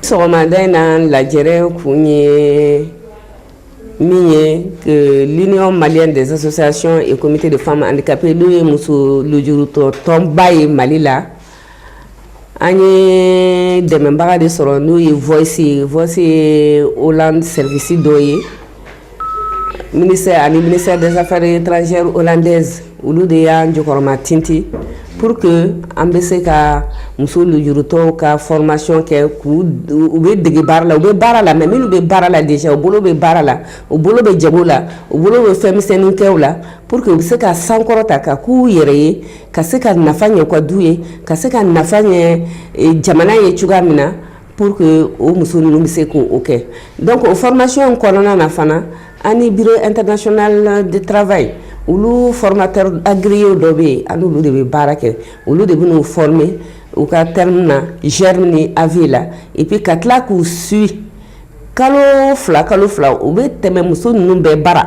sɔgɔmada in na lajɛrɛ kun ye min ye que l'union malienne des associations et comités de femmes handicapées n'o ye muso lujurutɔ tɔnba ye mali la an ye dɛmɛbaga de sɔrɔ n'o ye voice ye voice ye hollande service dɔ ye Ministère ani ministère des affaires étrangères hollandaise olu de y'an jɔkɔrɔma tinti pour que an bɛ se ka muso lujurutɔw ka formation kɛ k'u bɛ dege baara la u bɛ baara la mais minnu bɛ baara la déjà u bolo bɛ baara la u bolo bɛ jago la u bolo bɛ fɛn misɛnnin kɛw la pour que u bɛ se ka sankɔrɔta ka k'u yɛrɛ ye ka se ka nafa ɲɛ u ka du ye ka se ka nafa ɲɛ jamana ye cogoya min na Pour que o muso ninnu bɛ se k' o kɛ donc o formation in kɔnɔna na fana an ni bureau international du travail olu formateur agréé dɔ bɛ yen an n'olu de bɛ baara kɛ olu de bɛ n'u former u ka terme na germe ni AV la et puis ka tila k'u suit kalo fila kalo fila u bɛ tɛmɛ muso ninnu bɛɛ bara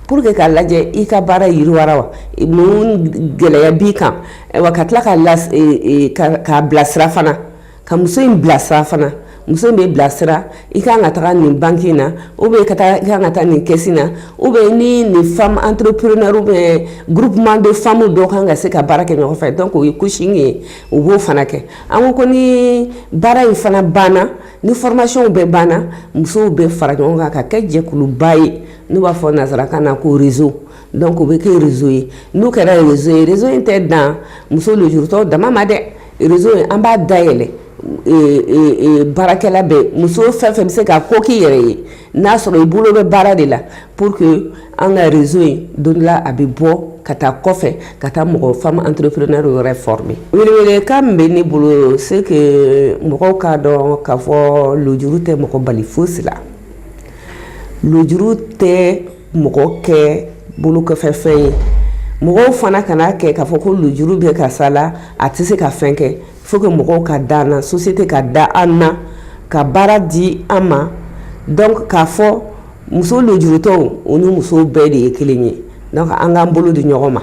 pour que k'a lajɛ i ka baara yiriwara wa mun gɛlɛya b'i kan wa ka tila k'a bilasira fana. ka muso in bilasira fana muso in bɛ bilasira i ka kan ka taga nin banki na ou bien i kan ka taa nin caisse na ou bien ni nin femme entrepreneur ou bien groupement de femmes dɔ kan ka se ka baara kɛ ɲɔgɔn fɛ donc o ye coaching ye u b'o fana kɛ an ko ko ni baara in fana banna ni formationw bɛɛ banna musow bɛ fara ɲɔgɔn kan ka kɛ jɛkuluba ye n'u b'a fɔ nansarakan na ko réseau Donc o bɛ kɛ réseau ye n'o kɛra réseau ye réseau in tɛ dan muso lujurutɔ dama ma dɛ réseau in an b'a dayɛlɛ baarakɛla bɛɛ muso fɛn fɛn bɛ se ka ko k'i yɛrɛ ye n'a sɔrɔ i bolo bɛ baara de la pour que an ka réseau in don dɔ la a bɛ bɔ ka taa kɔfɛ ka taa mɔgɔ femme entrepreneur yɛrɛ former welewelekan min bɛ ne bolo c'est que mɔgɔw k'a dɔn k'a fɔ lujuru tɛ mɔgɔ bali fosi la lujuru tɛ mɔgɔ kɛ bolo kɔfɛ fɛn ye mɔgɔw fana kan'a kɛ k'a fɔ ko lujuru bɛ karisa la a tɛ se ka fɛn kɛ faut que mɔgɔw ka da an na société ka da an na ka baara di an ma donc k'a fɔ muso lujurutɔw o ni musow bɛɛ de ye kelen ye donc an k'an bolo di ɲɔgɔn ma